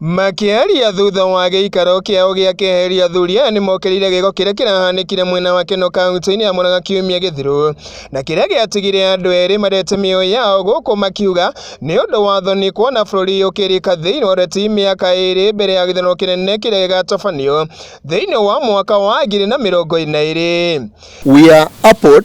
Makĩaria thutha wa gĩikaro kĩao gĩa keheri athuri aya nĩ mokereire gĩko kĩrĩa kĩrahanĩkire mwena wa Keno kaunti-inĩ ya Murang'a kiumia gĩthiru na kĩrĩa gĩatigire andũ erĩ marete mĩoyo yao gũkũ makiuga nĩ ũndũ wa thoni kuona bũrũri ũkĩrika thĩinĩ wa ũteti mĩaka ĩrĩ mbere ya gĩthurano kĩnene kĩrĩa gĩgatabanio thĩinĩ wa mwaka wa ngiri na mĩrongo ĩrĩ na ĩrĩ. We are appalled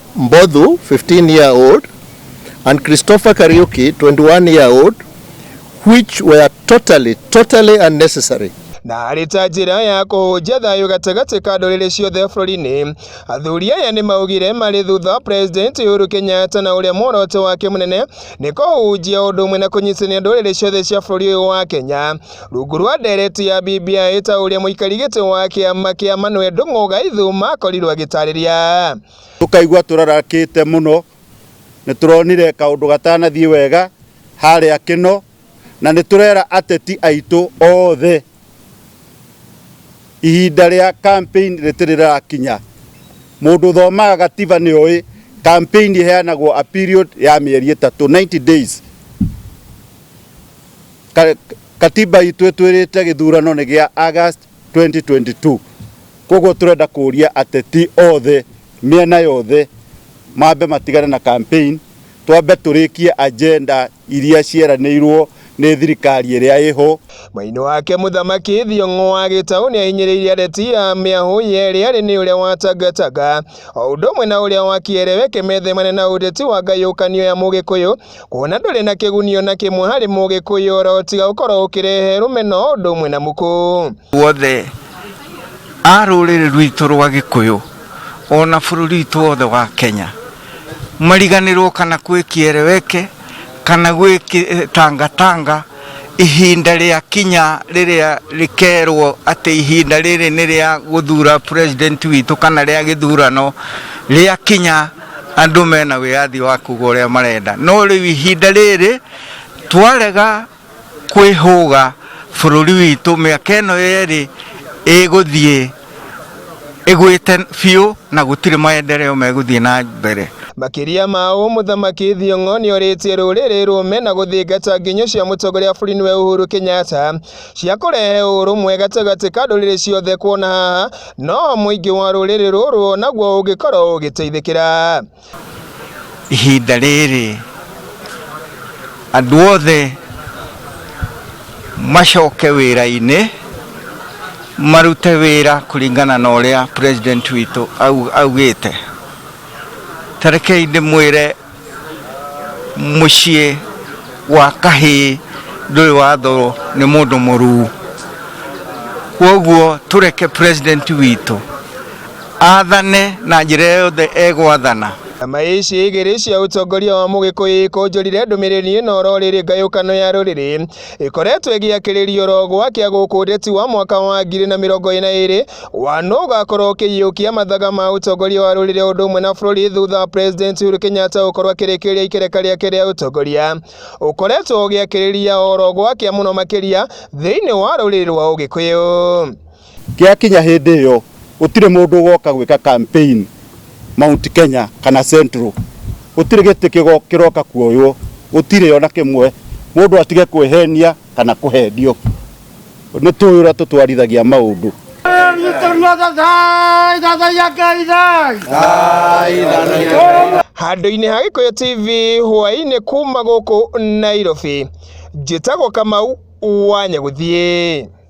Mbodhu, 15 year old, and Christopher Kariuki, 21 year old, which were totally, totally unnecessary. na arĩ ta njĩra ya kũhũnjia thayũ gatagatĩ ka ndũrĩrĩ ciothe bũrũri-inĩ. Athuri aya nĩ maugire marĩ thutha President Uhuru Kenyatta na ũrĩa muoroto wake mũnene nĩ kũhunjia ũndũ ũmwe na kũnyitithania ndũrĩrĩ ciothe cia bũrũri ũyũ wa Kenya rungu rwa ndereti ya BBI ta ũrĩa mũikari gĩtĩ wa kĩama kĩa Manuel Ndung'u Gaithu makorirwo agĩtarĩria. Tũkaigua tũrarakĩte mũno. Nĩ tũronire kaũndũ gatanathiĩ wega harĩa Kĩno, na nĩ tũrera ateti aitũ othe ihinda rĩa campaign rĩtirĩ rĩrakinya. Mũndũ ũthomaga gatiba nĩ oĩ campaign ĩheanagwo a period ya mĩeri ĩtatũ, ninety days. Katiba itũ ĩtwĩrĩte gĩthurano nĩ gĩa August 2022. Kwoguo tũrenda kũria ateti othe mĩena yothe mambe matigane na campaign, twambe tũrĩkie agenda iria cieranĩirwo nĩ thirikari ĩrĩa ĩho. Mwena-inĩ wake mũthamaki Thiong'o wa Gĩtaũ nĩahinyĩrĩirie ateti a mĩahũ yerĩ arĩ nĩ ũrĩa wa Tangatanga o ũndũ ũmwe na ũrĩa wa Kĩerewe kĩmethemane na ũteti wa ngayũkanio ya Mũgĩkũyũ kuona ndũrĩ na kĩguni ona kĩmwe harĩ mũgĩkũyũ oro tiga ũkorwo ũkĩrehe rũmena o ũndũ ũmwe na mũkũ wothe a rũrĩrĩ rwitũ rwa gĩkũyũ ona bũrũri witũ wothe wa kenya mariganĩrwo kana gwĩkiereweke kana gwĩtangatanga eh, ihinda rĩa kinya rĩrĩa rĩkerwo atĩ ihinda rĩrĩ nĩ rĩa gũthura president witũ kana rĩa gĩthurano rĩa kinya andũ mena wĩyathi wa kuga ũrĩa marenda no rĩu ihinda rĩrĩ twarega kwĩhũga bũrũri witũ mĩaka ĩno yerĩ ĩgũthiĩ ĩgwĩte biũ na gũtirĩ maendereo megũthiĩ na mbere Makĩria ma ũũ, Mũthamaki Thiong'o nĩorĩtie rũrĩrĩ rũme na gũthingata nginyo cia mũtongoria wa bũrũri nĩwe Uhuru Kenyatta cia kũrehe ũrũmwe gatagatĩ ka ndũrĩrĩ ciothe kuona haha no mũingĩ wa rũrĩrĩ rũrũ naguo ũngĩkorwo ũgĩteithĩkĩra. Ihinda rĩrĩ andũ othe macoke wĩra-inĩ marute wĩra kũringana na ũrĩa president witũ augĩte. Tarekei ndĩmwĩre mũciĩ wa kahĩĩ ndũrĩ wathorwo nĩ mũndũ mũruu kwoguo tũreke president witũ athane na njĩra yothe egwathana Nyama ici igĩrĩ cia ũtongoria wa Mũgĩkũyũ ikũnjũrire ndũmĩrĩri ĩno oro rĩrĩ ngayũkano ya rũrĩrĩ ĩkoretwo ĩgĩakĩrĩrio ro gwakĩa gũkũ ũteti wa mwaka wa ngiri na mĩrongo ĩna ĩrĩ wa nũ ũgakorwo ũkĩiyũkia mathaga ma ũtongoria wa rũrĩrĩ ũndũ ũmwe na bũrũri thutha wa President Uhuru Kenyatta gũkorwo akĩrĩkĩrĩria ikereka rĩake rĩa ũtongoria ũkoretwo ũgĩakĩrĩria oro gwakĩa mũno makĩria thĩinĩ wa rũrĩrĩ rwa Ũgĩkũyũ. Gĩakinya hĩndĩ ĩyo, gũtirĩ mũndũ ũgoka gwĩka campaign Mount Kenya kana Central. Gũtirĩ gĩtĩ kĩroka kuoywo, gũtirĩ ona kĩmwe. Mũndũ atige kwĩhenia kana kũhenio. Nĩ tũĩ ũrĩa tũtwarithagia maũndũ. Handũ-inĩ ha Gĩkũyũ TV hwaĩ-inĩ kuuma gũkũ Nairobi, njĩtagwo Kamau wa Nyagũthiĩ.